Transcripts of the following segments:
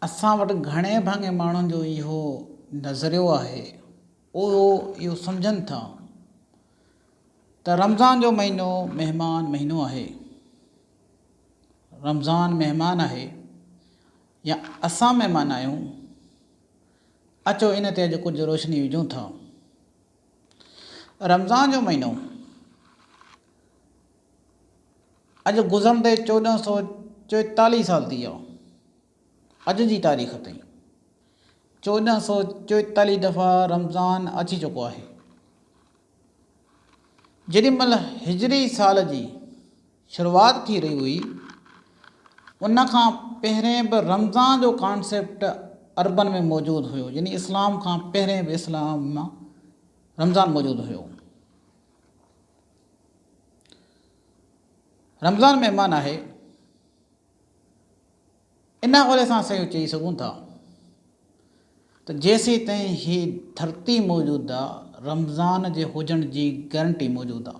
اسان وٽ گهڻي ڀاڱي ماڻهن جو اهو نظريو آهي اهو اهو سمجهن ٿا ته رمضان جو مهينو مهمان مهينو آهي رمضان مهمان آهي يا اسان مهمان آهيون اچو ان تي اڄ ڪجهه روشني وجهون ٿا رمضان جو مهينو اڄ گذرندي چوڏهن سؤ چوئيتاليهه سال ٿي ويا. اڄ جي تاريخ تائين چوڏهن سؤ چوئيتاليهه دفعا رمضان اچي چڪو آهي. جيڏي مهل هجري سال جي شروعات ٿي رهي هئي، ان کان پهرين به رمضان جو ڪانسيپٽ عربن ۾ موجود هيو، يعني اسلام کان پهرين به اسلام ۾ رمضان موجود هيو. رمضان مهمان آهي، ان حوالي سان اسان اهو چئي سگهون ٿا ته جيسيتائين هي ڌرتي موجود آ رمضان جي هجڻ جي گرنٽي موجود آ.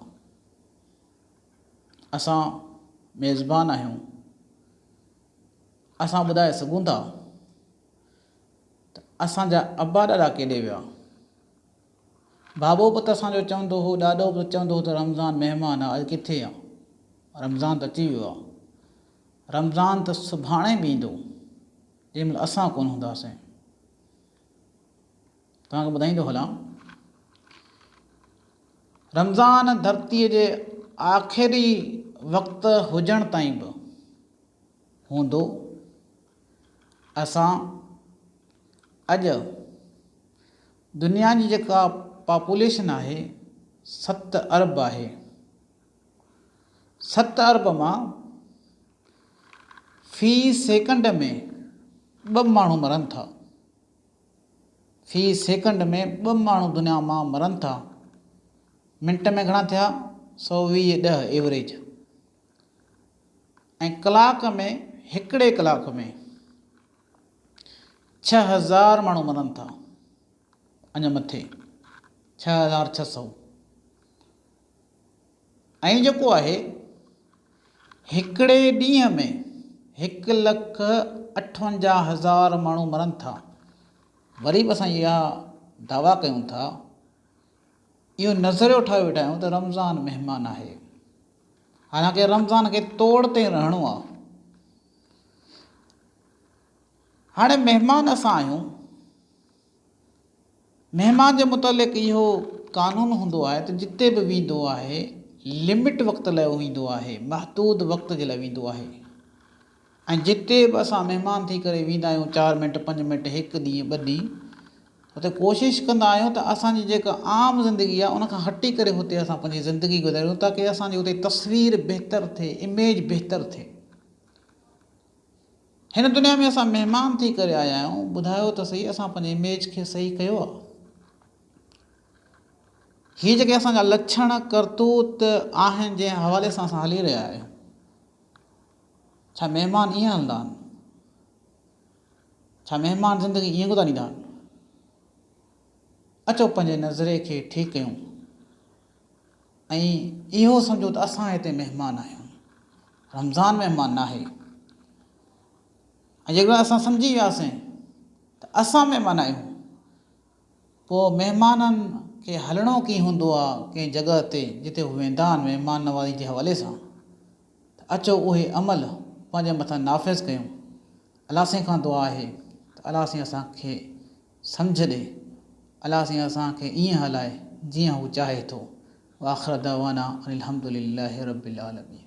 اسان ميزبان آهيون، اسان ٻڌائي سگهون ٿا ته اسان جا ابا ڏاڏا ڪيڏي ويا. بابو به ته اسان جو چوندو هو، ڏاڏو به ته چوندو هو ته رمضان مهمان آ، اڄ ڪٿي آ؟ رمضان ته اچي ويو آ. رمضان ته سڀاڻي به ايندو، جنهن مهل اسان ڪونه هونداسين. توهان کي ٻڌائيندو هلان، رمضان ڌرتيء جي آخري وقت هجڻ تائين به هوندو. اسان اڄ دنيا جي جيڪا پاپوليشن آهي ست ارب آهي. ست ارب مان في سيڪنڊ ۾ ٻه ماڻهو مرن ٿا. في سيڪنڊ ۾ ٻه ماڻهو دنيا مان مرن ٿا. منٽ ۾ گهڻا ٿيا سؤ ويهه ڏهه ايوريج. ۽ ڪلاڪ ۾ هڪڙي ڪلاڪ ۾ ڇهه هزار ماڻهو مرن ٿا اڃا مٿي ڇهه هزار ڇهه سؤ ۽ جيڪو آهي هڪڙي ڏينهن ۾ هڪ لک اٺونجاهه هزار ماڻهو مرن ٿا وري به اسان اها دعويٰ ڪيون ٿا اهو نظريو ٺاهي ويٺا آهيون ته رمضان مهمان آهي حالانڪه رمضان کي توڙ تي رهڻو آ. هاڻي مهمان اسان آهيون. مهمان جي متعلق اهو قانون هوندو آهي ته جتي به ويندو آهي لمٽ وقت لاء ويندو آهي، محدود وقت جي لاء ويندو آهي. ۽ جتي به اسان مهمان ٿي ڪري ويندا آهيون چار منٽ پنج منٽ هڪ ڏينهن ٻه ڏينهن اتي ڪوشش ڪندا آهيون ته اسان جي جيڪا عام زندگي آهي ان کان هٽي ڪري اتي اسان پنهنجي زندگي گذاريون تاڪه اسان جي اتي تصوير بهتر ٿئي اميج بهتر ٿئي هن دنيا ۾ اسان مهمان ٿي ڪري آيا آهيون ٻڌايو ته سهي اسان پنهنجي اميج کي صحيح ڪيو آهي هي جيڪي اسان جا لڇڻ ڪرتوت آهن جنهن حوالي سان اسان هلي رهيا آهيون ڇا مهمان ائين هلندا آهن؟ ڇا مهمان زندگي ائين گذاريندا آهن؟ اچو پنهنجي نظرئي کي ٺيڪ ڪيون ۽ اهو سمجهون ته اسان هتي مهمان آهيون. رمضان مهمان ناهي ۽ جيڪڏهن اسان سمجهي وياسين ته اسان مهمان آهيون، پوء مهمانن کي هلڻو ڪيئن هوندو آ ڪنهن جڳهه تي جتي هو ويندا آهن مهمان نوازي جي حوالي سان ته اچو اهي عمل پنهنجي مٿان نافذ ڪيون الله سائين کان دعا آهي ته الله سائين اسان کي سمجهه ڏي الله سائين اسان کي ائين هلائي جيئن هو چاهي ٿو واخر دعوانا ان الحمدلله رب العالمين.